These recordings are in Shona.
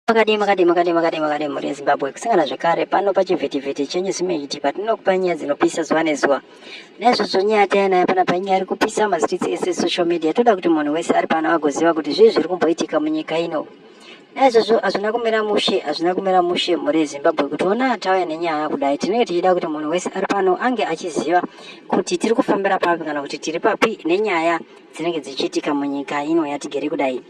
Makadii makadii makadii makadii makadii mhuri yeZimbabwe kusangana zvekare pano pachivhitivhiti chenyu Zimeyiti patinokupa nyaya dzinopisa zuva nezuva. Naizvozvo nyaya yataya nayo panapa inyaya iri kupisa mazititsi ese social media toda kuti munhu wese ari pano agoziva kuti zvii zviri kumboitika munyika ino. Naizvozvo hazvina kumira mushe hazvina kumira mushe mhuri yeZimbabwe kuti ona tauya nenyaya kudai tinenge tichida kuti munhu wese ari pano ange achiziva kuti tiri kufambira papi kana kuti tiri papi nenyaya dzinenge dzichiitika munyika ino yatigere kudai.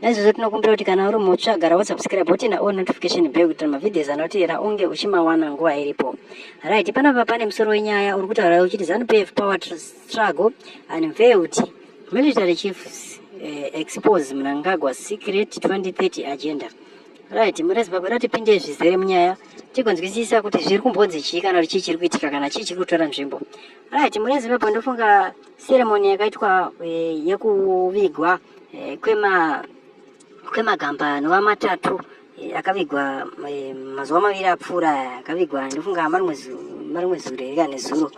Naizvozvo tinokumbira kuti kana uri mutsva gara wosubscribe wotinda o notification bell kuitira mavhidios anotevera unge uchimawana nguva iripo. Right, panapa pane musoro wenyaya uri kutaura uchiti ZanuPF power struggle unveiled military chiefs eh, expose Mnangagwa secret 2030 agenda. Right, mure Zimbabwe ratipinde zvizere munyaya tigonzwisisa kuti zviri kumbonzi chii kana kuti chii chiri kuitika kana chii chiri kutora nzvimbo. Right, mure Zimbabwe ndofunga Ceremony yakaitwa eh, yekuvigwa eh, kwema kwemagamba anova matatu eh, akavigwa eh, mazuva maviri apfuura aya akavigwa ndofunga marimwe zu- marimwe zuro here kana nezuro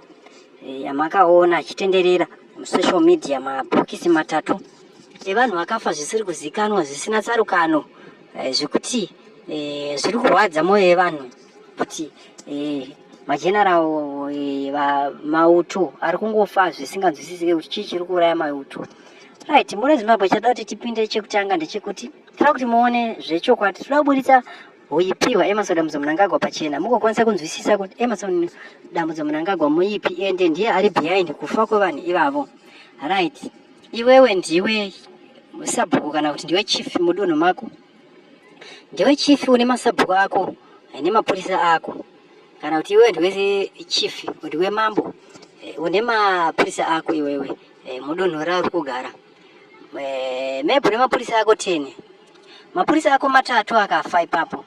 eh, amakaona achitenderera musocial media mabhokisi matatu evanhu vakafa zvisiri kuzikanwa zvisina tsarukano eh, zvekuti eh, zviri kurwadza mwoyo yevanhu kuti eh, mageneral eh, mauto ari kungofa zvisinganzwisisike kuti chii chiri kuuraya mauto right mune zimbabwe chada kuti tipinde chekutanga ndechekuti tira kuti muone zvechokwadi tinoda kuburitsa huipiwa emerson dambudzo munangagwa pachena mugokwanisa kunzwisisa kuti emerson dambudzo munangagwa muipi ende ndiye ari behind kufa kwevanhu ivavo right iwewe ndiwe sabhuku kana kuti ndiwe chief mudunhu mako ndiwe chief une masabhuku ako nemapurisa ako kana kuti iwewe ndiwe chief ndiwe mambo eh, une mapurisa ako iwewe eh, mudunhu rauri kugara eh, maybe une mapurisa ako ten mapurisa ako matatu akafa ipapo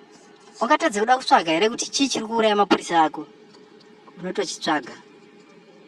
ungatadze kuda kutsvaga here kuti chii chiri kuuraya mapurisa ako unotochitsvaga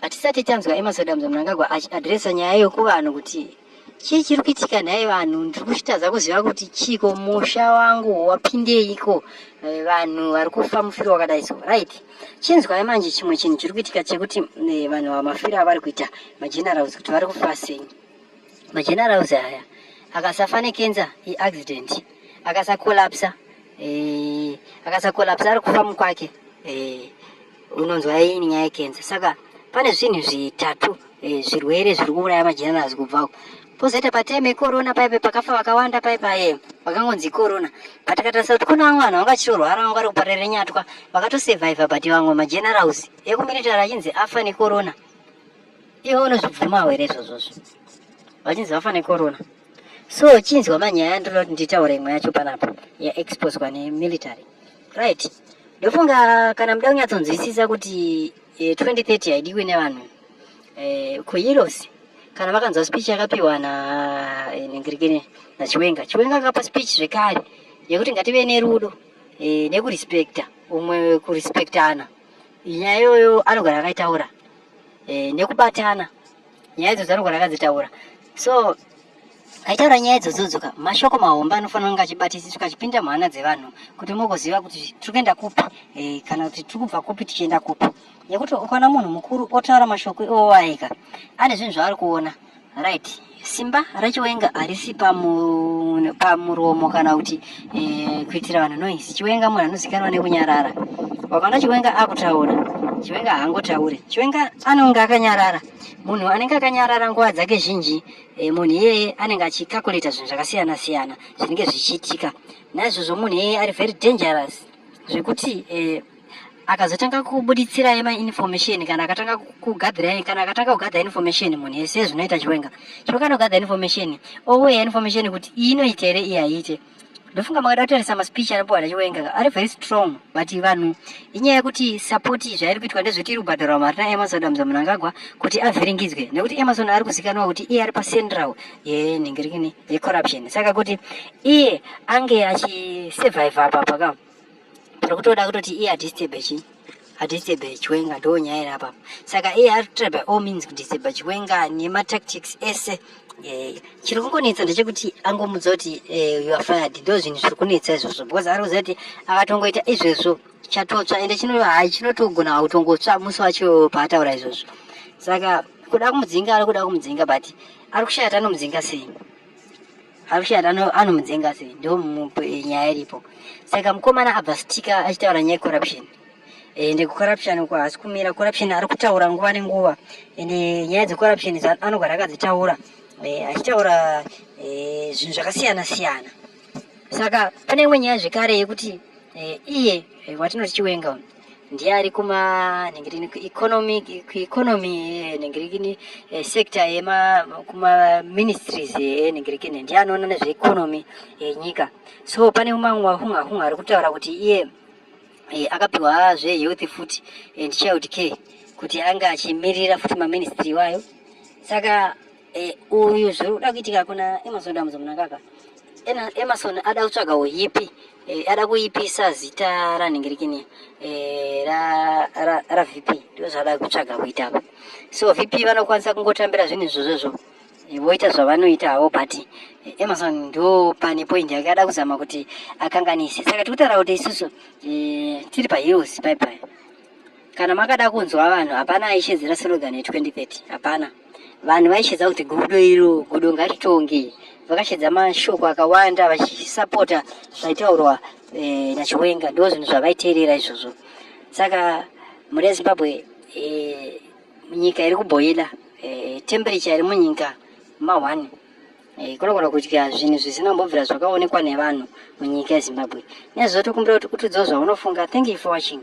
Hatisati tanzwa Emasadamza Mnangagwa achiadresa nyaya iyo kuvanhu kuti chii chiri kuitika nhai vanhu ndiri kuchitadza kuziva kuti chiiko musha wangu wapindeiko eh, vanhu vari kufa mufiro wakadai so right chinzwai manje chimwe chinhu chiri kuitika chekuti eh, vanhu vamafiro avari kuita magenerals kuti vari kufa sei magenerals aya akasafa nekenza iaccident akasakolapsa eh, akasakolapsa ari kufa mukwake unonzwa ini nyaya yekenza saka pane zvinhu zvitatu eh, zvirwere zviri kuuraya majenerazi kubva uko pozoita patime yekorona paipe pakafa vakawanda paipa e eh, vakangonzi ikorona but akatarisa kuti kune vamwe vanhu vanga vachitorwara vanga vari kuparira nyatwa vakatosurviva but vamwe magenerals ekumiritari achinzi afa nekorona iwe unozvibvuma hwere izvozvozvo vachinzi vafa nekorona so chinzwa manyaya ndinoda kuti nditaure imwe yacho panapa yaexposwa nemilitary right ndofunga kana muda kunyatsonzwisisa kuti eh, 2030 haidiwi nevanhu eh, kueuros kana makanzwa speech yakapiwa na eh, nengirikene nachiwenga chiwenga akapa speech zvekare yekuti ngative nerudo eh, nekurespecta umwe kurespectana nyaya iyoyo anogara akaitaura eh, nekubatana nyaya idzo dzanogona akadzitaura so aitaura nyaya idzodzoka mashoko mahombe anofanira kunge achibatisiswa achipinda muhana dzevanhu kuti mugoziva kuti tiri kuenda kupi e, kana kuti tiri kubva kupi tichienda kupi nekuti ukaona munhu mukuru otaura mashoko iwo waika ane zvinhu zvaari kuona right simba rachiwenga harisi pamuromo kana kuti eh, kuitira vanhu noise chiwenga munhu anozikanwa nekunyarara wakaona chiwenga akutaura chiwenga haangotaure chiwenga anonge akanyarara munhu anenge akanyarara nguva dzake zhinji eh, munhu iyeye anenge achikakulita zvinhu zvakasiyana siyana zvinenge zvichiitika naizvozvo munhu iyeye ari very dangerous zvekuti eh, akazotanga kubuditsirai mainformation kana akatanga kugadhirai kana akatanga kugadha information munhu yese zvinoita chiwenga chokana kugadha information oweya information kuti iyi inoita here iyi haiite ndofunga makada kutarisa maspeech anopiwa nachiwenga ari very strong but vanhu inyaya yekuti support zvairi kuitwa ndezveti iri kubhadharwa mari naemerson adams munangagwa kuti avhiringidzwe nekuti emerson ari kuzikanwa kuti iye ari pacentral yenhingirikini yecorruption saka kuti iye ange achisurvive apapa ka ari kutoda kutoti iye adisturbe chi adisturbe chiwenga ndo nyaya iri apapa saka iye ari kutoda by all means kudisturbe chiwenga nematactics ese eh, chiri kungonetsa ndechekuti angomudza kuti eh, you are fired ndo zvinhu zviri kunetsa izvozvo because ari kuziva kuti akatongoita izvezvo chatotsva ende chino hai chinotogona kutongotsva musi wacho paataura izvozvo saka kuda kumudzinga ari kuda kumudzinga but ari kushaya tanomudzinga sei Avishat anomudzenga sei ndo eh, nyaya iripo saka mukomana abva stika achitaura nyaya yecorruption ende eh, kucorruption uko haasi kumira corruption ari kutaura nguva nenguva ende eh, nyaya dzecorruption anogara akadzitaura achitaura zvinhu zvakasiyana siyana saka pane imwe nyaya zvekare yekuti iye watinoti chiwenga ndiye ari kuma nhingirini kueconomy kueconomy nhingirini eh, sector yema kuma ministries eh, nhingirini ndiye anoona nezveeconomy yenyika eh, so pane umamwe wahunga hunga ari kutaura kuti iye akapiwa zvehealth food and child care kuti anga achimirira futi maministry iwayo saka Eh, uyu zviri kuda kuitika kuna Emerson Damudza Munangagwa. Ena Emerson ada kutsvaga uyipi, eh, ada kuipisa zita ranhingirikini eh, ra, ra, ra VP ndizvo zvaada kutsvaga kuita apa. So VP vanokwanisa kungotambira zvinhu izvozvo eh, voita zvavanoita havo but eh, Emerson ndo pane point yake ada kuzama kuti akanganise. Saka tiri kutaura kuti isusu eh, tiri paheels bye bye. kana makada kunzwa vanhu hapana aishedzera slogan ye 2030 hapana vanhu vaishedza kuti gudo iro gudo ngaritonge vakashedza mashoko akawanda vachisapota zvaitaurwa e, nachiwenga ndo zvinhu zvavaiteerera izvozvo saka mhuri yezimbabwe e, nyika iri kubhoila e, temperature iri munyika ma1 e, kunogona kudya zvinhu zvisina kumbobvira zvakaonekwa nevanhu munyika yezimbabwe nezvo tokumbira kuti utudzawo zvaunofunga thank you for watching